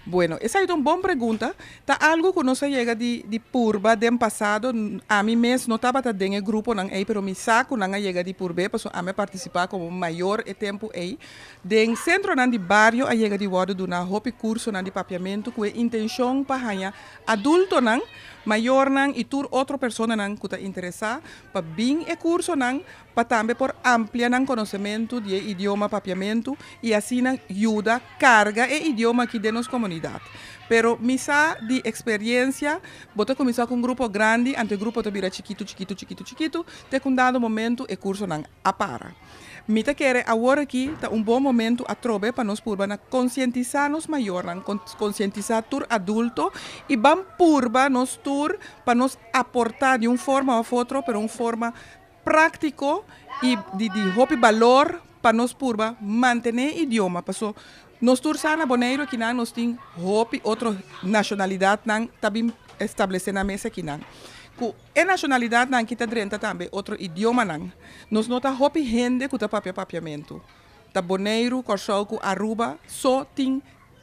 Bueno, esai ta un bon pregunta. Ta algu ku nos a yega di di purba den pasado. Ami mes no tabata den e gruponan ei, pero mi sa ku nan a yega di purb'é, pasobra ami a partisipá komo un mayor e tempu ei. Den sentronan di bario a yega di wòrdu duná hopi kursonan di papiamentu ku e intenshon pa haña adultonan, mayornan i tur otro personanan ku ta interesá pa bin e kursonan pa tambe por amplia nan konosementu di e idioma papiamentu i asina yuda karga e idioma aki den nos komunidat. Pero mi sa di eksperiensia bo ta kuminsá ku un grupo grandi, anto e grupo ta bira chikitu chikitu chikitu chikitu, te ku un dado momentu e kursonan a para. Mi ta kere awor aki ta un bon momentu atrobe pa nos purba na konsientisá nos mayornan, konsientisá tur adulto i ban purba nos tur pa nos aportá di un forma òf otro, pero un forma práktiko i di hopi balor pa nos purba mantené e idioma. Paso, nos tur sa na Boneiru aki nan nos tin hopi otro nashonalidatnan ta bin establesé nan mes aki nan. Ku e nashonalidatnan aki ta drenta tambe otro idiomanan. Nos no ta hopi hende ku ta papia papiamentu. Ta Boneiru, Kòrsou ku Aruba so tin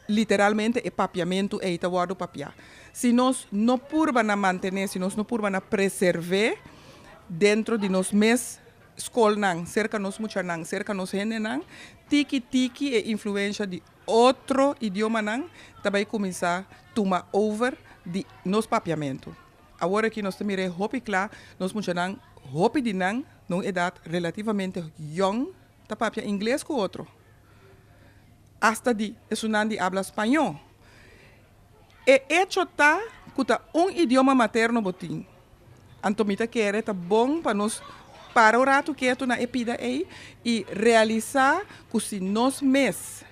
Literalmente e papiamentu ei ta wòrdu papiá. Si nos no purba na mantené, si nos no purba na preservé dentro di nos mes skolnan, serka nos muchanan, serka nos hendenan, tiki tiki e influensha di otro idiomanan ta bai kuminsá tuma over di nos papiamentu. Awor aki nos ta mir'é hopi kla, nos muchanan, hopi di nan na un edat relativamente yòn, Ta papia ingles ku otro, asta di esunnan di abla spañó. E echo ta ku ta un idioma materno bo tin, anto mi ta kere ta bon pa nos para un ratu ketu na e pida ei i realisá ku si nos mes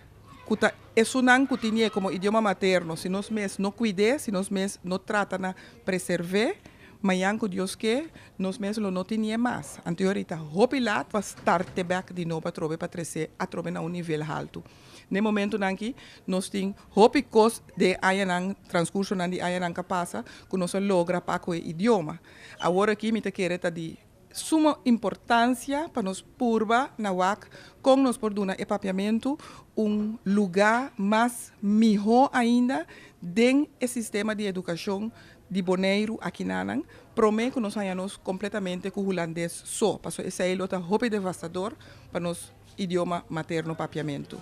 ku ta esunnan ku tinié komo idioma materno, si nos mes no kuid'é, si nos mes no trata na preserv'é, mañan ku Dios ke, Nos mes lo no tinié mas, anto yori ta hopi lat pa starte bek di nobo atrobe pa tresé atrobe na un nivel haltu. N'e momentunan aki nos tin hopi kos den añanan, transkursonan di añanan ka pasa, ku nos a logra pa ku e idioma. Awor aki mi ta kere ta di suma importansia pa nos purba na wak kon nos por duna e papiamentu un lugá mas mihó ainda den e sistema di edukashon di Boneiru aki nanan, prome ku nos haña nos kompletamente ku hulandes so, paso esei lo ta hopi devastador pa nos idioma materno, papiamentu.